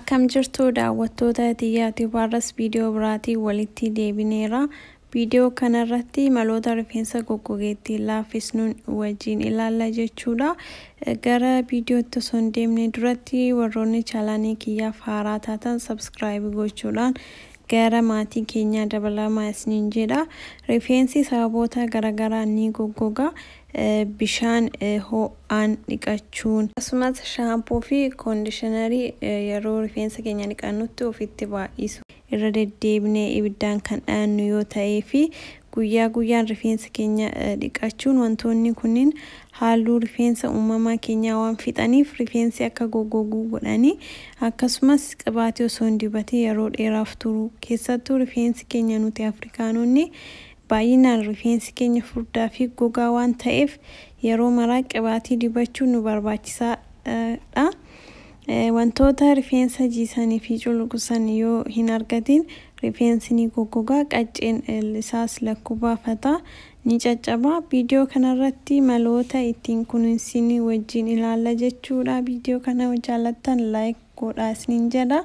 Akkam jirtu daawwattoota Tiyyaatiif har'as viidiyoo biraatiin walitti deebineera. Viidiyoo kanarratti maloota rifeensa goggogee ittiin laaffisnuun wajjin ilaalla jechuudha. Gara viidiyootti osoo hin deemne duratti warroonni chaalaanii kiyyaaf haaraa taatan sabskiraayib gochuudhaan gara maatii keenyaa dabalamaa isiniin jedha. Rifeensi sababoota garagaraan ni goggoga. bishaan ho'aan dhiqachuun. Akkasumas shaampoo fi koondishinarii yeroo rifeensa keenya dhiqannutti ofitti baay'isuu. Irra deddeebinee ibiddaan kan dhayannu yoo ta'ee fi guyyaa guyyaan rifeensa keenya dhiqachuun wantoonni kunniin haalluu rifeensa uumamaa keenyaa waan fixaniif rifeensi akka goggoguu godhani. Akkasumas qibaatii osoo hin dibatin yeroo dheeraaf turuu. Keessattuu rifeensi keenya nuti Afrikaanonni Baay'inaan rifeensi keenya furdaa fi gogaa waan ta'eef yeroo maraa qibaatii dibachuun nu barbaachisaa dha. Wantoota rifeensa jiisanii fi culuqsan yoo hin argatiin rifeensi ni goggoga, qacceen isaas lakkuu baafata, ni caccaba. Viidiyoo kana irratti maloota ittiin kunuunsinu wajjin ilaalla jechuu dha. Viidiyoo kana yoo jaallattan like godhaa isiniin jedha.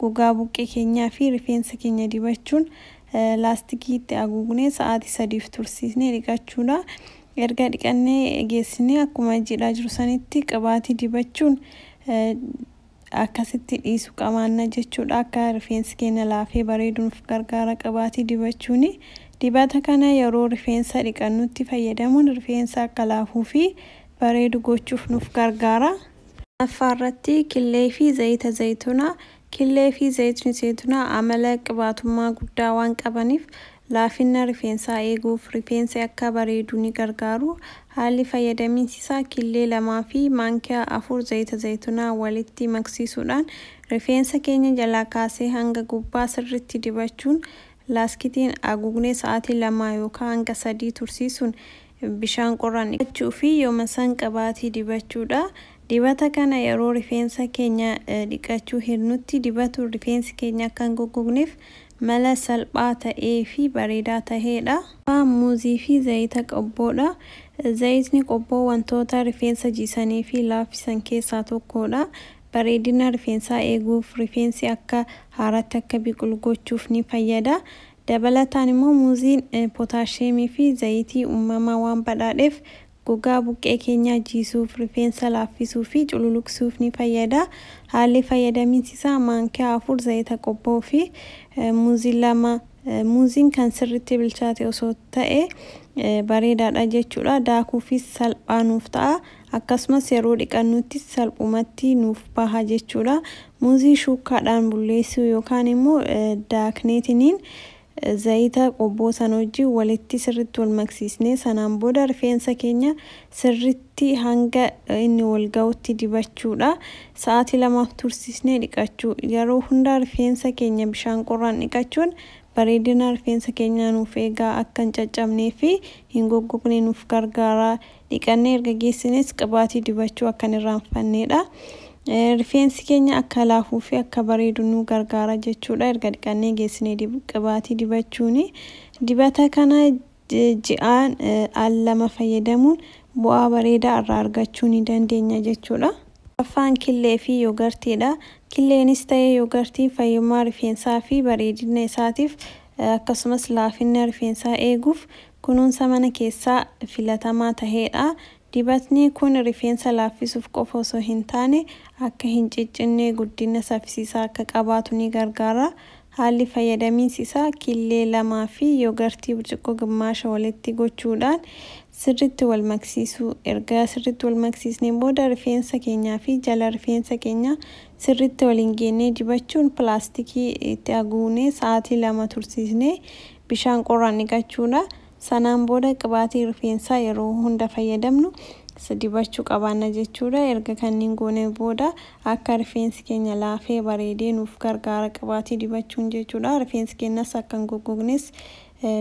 Gogaa buqqee keenyaa fi rifeensa keenya dibachuun laastikii itti aguugnee sa'aatii sadiif tursiisnee dhiqachuudha. Erga dhiqannee geessinee akkuma jiidhaa jiru sanitti qibaatii dibachuun akkasitti dhiisu qamaanna jechuudha. Akka rifeensi keenya laafee bareedu nuuf gargaara qibaatii dibachuuni. Dibata kana yeroo rifeensa dhiqannutti fayyadamuun rifeensa akka laafuu fi bareedu gochuuf nuuf gargaara. Shanaffaa irratti killee fi zayita zaytunaa, Killee fi zayitni zaytunaa amala qibaatummaa guddaa waan qabaniif laafinna rifeensaa eeguuf, rifeensi akka bareedu ni gargaaru. Haalli fayyadamiinsi isaa killee 2 fi maankiyaa 4 zayita zaytunaa walitti maksiisuudhaan rifeensa keenya jalaa kaasee hanga gubbaa sirriitti dibachuun laaskitiin aguugnee sa'aatii 2 yookaa hanga 3 tursiisuun Bishaan qorraan dhiqachuu fi yooma san qabaatii dibachuu dha. Dibata kana yeroo rifeensa keenya dhiqachuu hirnutti dibatu rifeensi keenya akka hin goggogneef mala salphaa ta'ee fi bareedaa tahee dha. Ffaa, Muuzii fi zayita qobboo dha. Zayitni qobboo wantoota rifeensa jiisanii fi laaffisan keessaa tokko dha. Bareedina rifeensaa eeguuf, rifeensi akka haaraatti akka biqilu gochuuf ni fayyada. Dabalataan immoo muuziin pootaashiyeemii fi zayitii uumamaa waan badhaadheef gogaa buqqee keenyaa jiisuuf, rifeensa laaffisuu fi cululuqsuuf ni fayyada. Haalli fayyadamiinsi isaa maankiyaa 4 zayita qobboo fi muuzii 2 muuziin kan sirriitti bilchaate osoo ta'e bareedaadha jechuudha. Daakuufis salphaa nuuf ta'a. akkasumas yeroo dhiqannuttis salphumatti nuuf baha jechuudha. Muuzii shuukkaadhaan bulleessuu yookaan immoo daakneetiniin zayita qobboo sana wajjin walitti sirritti wal maksiisnee sanaan booda rifeensa keenya sirritti hanga inni wal ga'utti dibachuudha. Sa'aatii lamaaf tursiisnee dhiqachuu. Yeroo hundaa rifeensa keenya bishaan qorraan dhiqachuun bareedina rifeensa keenyaa nuuf eegaa akka hin caccabnee fi hin goggogne nuuf gargaara. Dhiqannee erga geessines qibaatii dibachuu akka hin irraanfanneedha. Rifeensi keenya akka laafuu fi akka bareedu nu gargaara jechuudha. Erga dhiqannee geessinee qibaatii dibachuuni. Dibata kana ji'aan al lama fayyadamuun bu'aa bareedaa irraa argachuu ni dandeenya jechuudha. Affaan killee fi yoogartiidha. Killeenis ta'ee yoogartiin fayyummaa rifeensaa fi bareedina isaatiif akkasumas laafinna rifeensaa eeguuf Kunuunsa mana keessaa filatamaa taheedha. Dibatni kun rifeensa laaffisuuf qofa osoo hin taane akka hin ciccinne guddinna saffisiisaa akka qabaatu ni gargaara. Haalli fayyadamiinsi isaa killee lamaa fi yogartii burcuqqoo gimmaasha walitti gochuudhaan sirritti wal maksiisuu. Erga sirritti wal maksiisneen booda rifeensa keenyaa fi jala rifeensa keenyaa sirritti waliin geennee dibachuun pilaastikii itti aguugnee sa'aatii lama tursiisnee Bishaan qorraan dhiqachuudha. Sanaan booda qibaatii rifeensaa yeroo hunda fayyadamnu dibachuu qabaanna jechuudha. Erga kanniin goonee booda akka rifeensi keenya laafee bareedee nuuf gargaara qibaatii dibachuun jechuudha. Rifeensi keenyas akka hin goggognes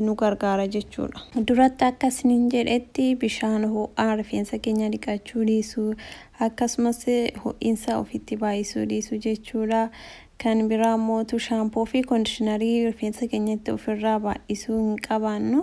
nu gargaara jechuudha. Duratti akka isiniin jedhetti bishaan ho'aan rifeensa keenya dhiqachuu dhiisuu, akkasumas ho'insa ofitti baay'isuu dhiisuu jechuudha. Kan biraa immoo utuu shaampoo fi kondishinarii rifeensa keenyatti of irraa baay'isuu hin qabaannu.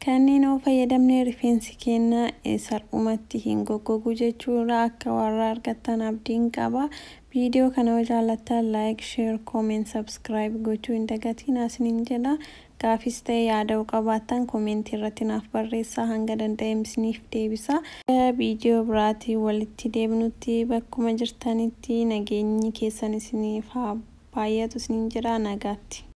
Kanneen yoo fayyadamne rifeensi keenya salphumatti hin goggogu jechuu irraa akka warra argattan abdiin qaba. Viidiyoo kana yoo jaallattan like, share, comment, subscribe gochuu hin dagatinaa isiniin jedha. Gaafis ta'e yaada yoo qabaattan comment irratti naaf barreessaa hanga danda'eem isiniif deebisa. Hanga video biraatiin walitti deebinutti bakkuma jirtanitti nageenyi keessan isiniif haa baayyatu isiniin jedha. Nagaatti.